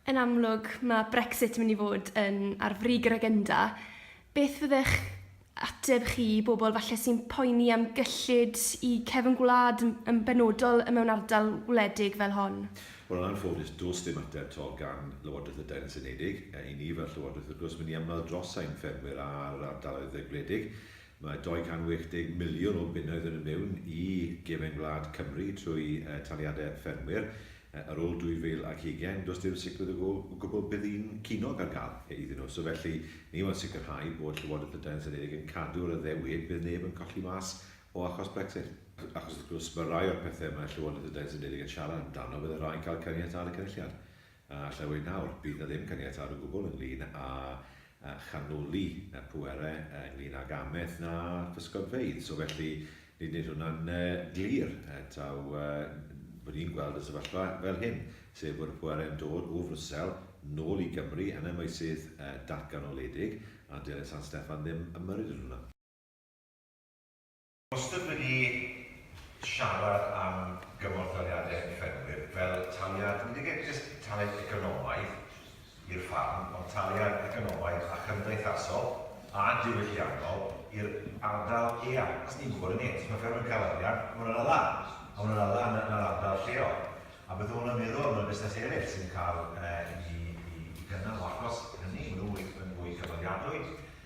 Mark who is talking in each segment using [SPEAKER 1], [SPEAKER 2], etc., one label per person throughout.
[SPEAKER 1] Yn amlwg, mae Brexit yn mynd i fod yn ar frig yr agenda. Beth fyddech ateb chi i bobl falle sy'n poeni am gyllid i cefn gwlad yn benodol mewn ardal wledig fel hon? Wel, yn anffodus, does dim ateb tol gan Lywodraeth y Deyrnas Unedig. I ni fel Llywodraeth, wrth gwrs, mae ni am weld dros ein ffermwyr a'r ardaloedd gwledig. Mae 280 miliwn o bunnoedd yn mynd mewn i gefn gwlad Cymru trwy taliadau ffermwyr. Ar ôl 2020, does dim sicrwydd o gwbl bydd un cinog ar gael ei ddino, so felly ni yw yn sicrhau bod Llywodraeth y Deyrnas Unedig yn cadw'r addewid bydd neb yn colli mas o achos Brexit. Achos wrth gwrs, mae rhai o'r pethau mae Llywodraeth y Deyrnas Unedig yn siarad amdano, byddai rhai'n cael caniatâd y Cynulliad, a allai weud nawr, bydd 'na ddim caniatâd o gwbl ynglŷn â a chanoli y pwerau ynglŷn ag amaeth na physgodfeydd. So felly, nid nid hwnna'n glir taw bod ni'n gweld y sefyllfa fel hyn, sef bod y pwerau yn dod o Frwsel nôl i Gymru yn y meysydd datganoledig, a dyw San Steffan ddim ymyrryd yn hwnna. Wastad wedi siarad am gymorthdaliadau i ffermwyr fel taliad, nid yn unig jyst taliad economaidd i'r ffarm, ond taliad economaidd a chymdeithasol a diwylliannol i'r ardal eang. Os ni'n gwybod hynny, os mae ffermwr yn cael arian, mae hwnna'n ala, a mae hwnna'n ala yn yr ardal lleol. A beth mae hwnna'n meddwl am y busnes eraill sy'n cael i gynnal o achos hynny, maen nhw'n fwy cyfaliadwy.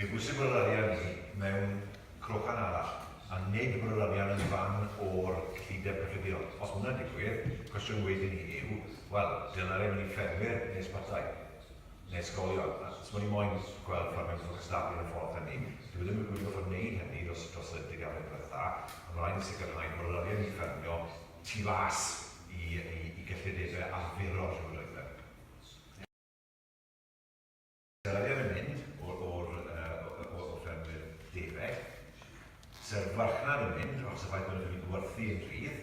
[SPEAKER 1] Fe bwysig bod yr arian ni mewn crochan arall, a nid bod yr arian yn fan o'r cyllideb cyffredinol. Os mae hwnna'n digwydd, cwestiwn wych i ni yw, wel, dylai'r arian mynd i ffermwyr neu ysbytai, neu ysgolion? A os mae ni moyn gweld ffordd mewn ffordd cystadlu yn y ffordd hynny, dyw e ddim wedi gorfod gwneud hynny dros dros y deganau diwetha, a mae rhaid ni sicrhau bod yr arian ni'n ffermio tu fas i i i gyllidebau arferol llywodraethau. Yr arian yn mynd o'r ffermwyr defaid, sy'r farchnad yn mynd, achos y ffaith bod nhw'n gallu gwerthu yn rhydd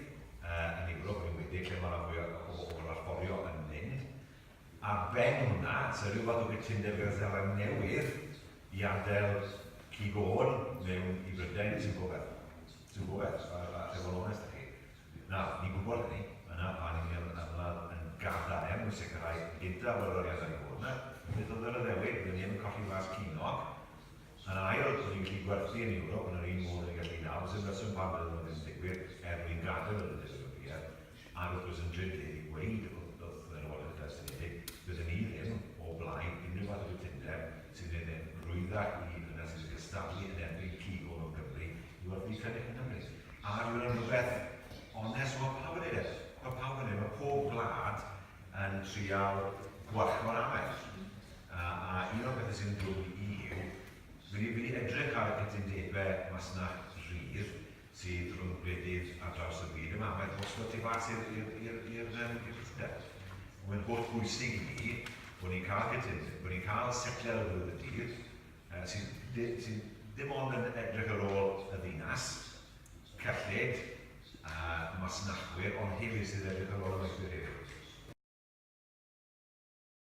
[SPEAKER 1] yn Ewrop yn enwedig, lle mae 'na fwy o bobl allforio yn mynd. Ar ben hwnna, sy'r rhyw fath o gytundeb gyda Seland Newydd i adael cig-ôn mewn i Brydain sy'n rhywbeth, sy'n rhywbeth, a alla i fod yn onest â chi. Na, ni'n gwybod hynny. Yna pan y'n ni yn ymladd yn gadarn i sicrhau, gyda bod yr arian wedi bod yna, beth oedd yr addewid? Byddwn ni ddim yn colli Plas Ceiniog. Yn ail, byddwn ni'n gallu gwerthu yn Ewrop yn yr un modd ry'n ni'n gallu nawr. Does dim rheswm pam bydde hwnna ddim yn digwydd, er mwyn gadael yr Undeb Ewropeaidd. Ac wrth gwrs, yn drud gen i ddweud wrth y Llywodraeth Dawrstiniedig, bydden ni ddim o blaid unrhyw fath o gytundeb sy'n gwneud e'n rwyddach i ddynes sy'n cystadlu yn erbyn cig o mewn Cymru Yw'r byd cynnig yn Cymru? A yw yna'n rhywbeth onest? Mae pawb yn ei ddell. Mae pawb yn ei Mae pob gwlad yn trial gwarchod o'r amell. A, a un o'r bethau sy'n dod i mi yw, fi wedi edrych ar y cytundebau masnach rhydd sydd rhwng gwledydd ar draws y byd yma. Mae'n bosgol tu fas i'r cytundeb. Mae'n holl bwysig i mi bod ni'n cael cytundeb, bod ni'n cael setliad o ddod y dydd, sydd dim ond yn edrych ar ôl y ddinas, cyllid a masnachwyr ond hefyd sydd edrych ar ôl y myfyrwyr hefyd.